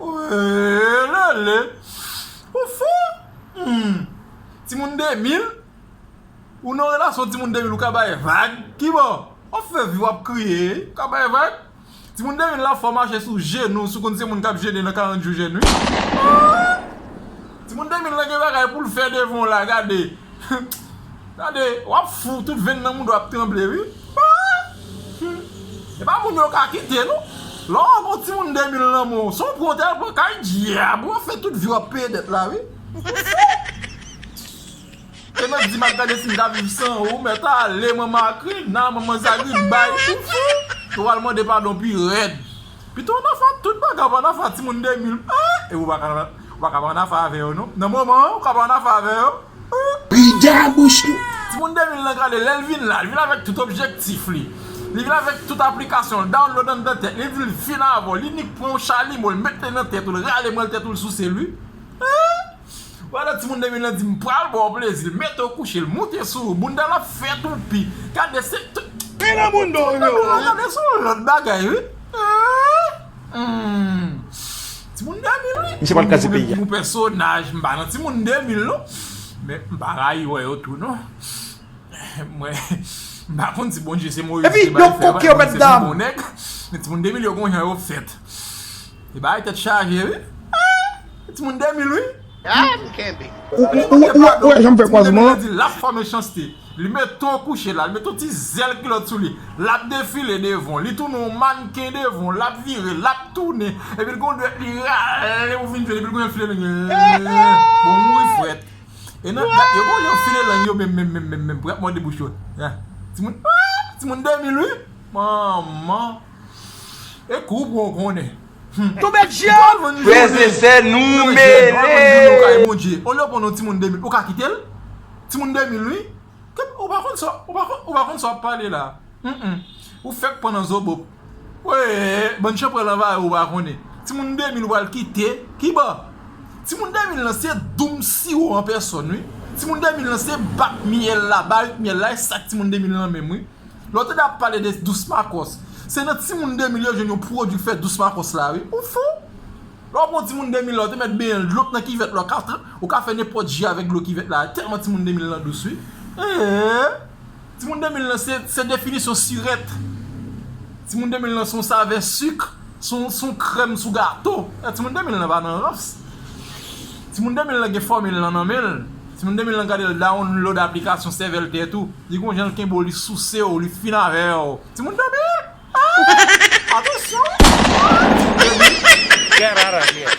Welele ou fò humm timoun 2000 ou nan relasyon timoun 2000 ou ka bay vag kibò wap fè vi wap kriye ou ka bay vag timoun 2000 la fò mache sou jenou si w konn se moun kap jene nan 40 jou jèn wi ooh. Timoun 2000 lan gen bagay poul fè devan w la gade Gade wap fou tout venn nan mouda w ap tranble wi Humm Epa moun yo ka kite non Lè w ak yon timoun 2000 nan men w son pran w te al pran kay dyab wap fè tout vi w ap peye dèt la wi Ou fou Te mèt di m ak gade si m ka viv san ou mèt ale manman akrina manman zagriba Ou fou Ou al mande padon pi rèd. Pito w nan fwa tout bagay w pa nan fwa timoun demil eeh epi w pa ka w pa ka pa nan afè avè yo non nan moman an ou ka pa nan afè avè yo ooh. Pida bouch nou. Timoun demil lan gade lèl vin la li vin avèk tout objektif li li vin avèk tout aplikasyon l download anndan tèt li dil fin avèw li nik pran yon chalimo l met li nan tèt ou l rale mòl tèt ou l souse l wi eeh. Wala timoun 2000 lan di m pral baw plezi mete w kouche l moute sou ou bounda l ap fè toupi gade se Pi nan moun do rive wou wi. Gade se yon lòt bagay wi humm timoun 2000 wi. Misye pat kraze peyi a. Bon pèsonaj m pa nan timoun 2000 non men m pa rayi wè yo tou non mwen m pa konn si Bondye se Moyiz ki te bay fè a pa se pi bon nèg men timoun 2000 yo gon jan yo fèt. Ti bagay tèt chaje wi. Eeh ti moun 2000 wi. Ahh m kenbe. Ou wè janm fè kwazman an. Ti moun 2000 an di lap fò mechanste. Li meton kouche la, li met yon ti zèl kilòt sou li. Lap defile devan w. Li tounen yon mannken devan w. Lap vire, lap tounen. Epi l gen yon dwèt li rale pou fin file. Epi l gen yon file lang. Eeh bon mouri frèt. E nan dat yo bon yo file lang yo menm menm menm menm pou yap mòde bouch yo. Ti moun ahh ti moun 2000 wi. Manman. E kou pou ou konnen. Humm. Frèz e sè nou mele. On lè ou konn yon timoun 2000 ou ka kite l? Timoun 2000 wi. Ou pa konn sa ou pa konn sa w ap pale la. Ou fèk pran nan zobop. Wee bann chanpwèl anvayi w ou pa konnen. Timoun 2000 ou pral kite. Ki bo? Timoun 2000 lan se doum siwo an pèsòn wi. Timoun 2000 lan se bak myèl la, barik myèl la e sak timoun 2000 lan menm wi. Lè w tande ap pale de dous makòs, se nan timoun 2000 yo jwenn yon pwodui fè dous makòs la wi. Ou fou? Lè w ap pran yon timoun 2000 la, w te mèt benyen l dlo k nan kivèt la, w ka fè, w ka fè nenpòt ji avèk dlo kivèt la, tèlman timoun 2000 lan dous wi. Ee! Timoun 2000 lan se definisyon sirèt. Timoun 2000 lan se yon savè sik. Son krèm sou gato. Ti moun 2000 lan pa nan rans. Ti moun 2000 lan gen fòmil lan nan menl. Ti moun 2000 lan gade l download aplikasyon sèvèl tè tou. Li gon jan l kenbe w li souse w li fin avè w. Ti moun 2000 aah atansyon wi. Get outta here.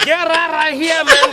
Get outta here man.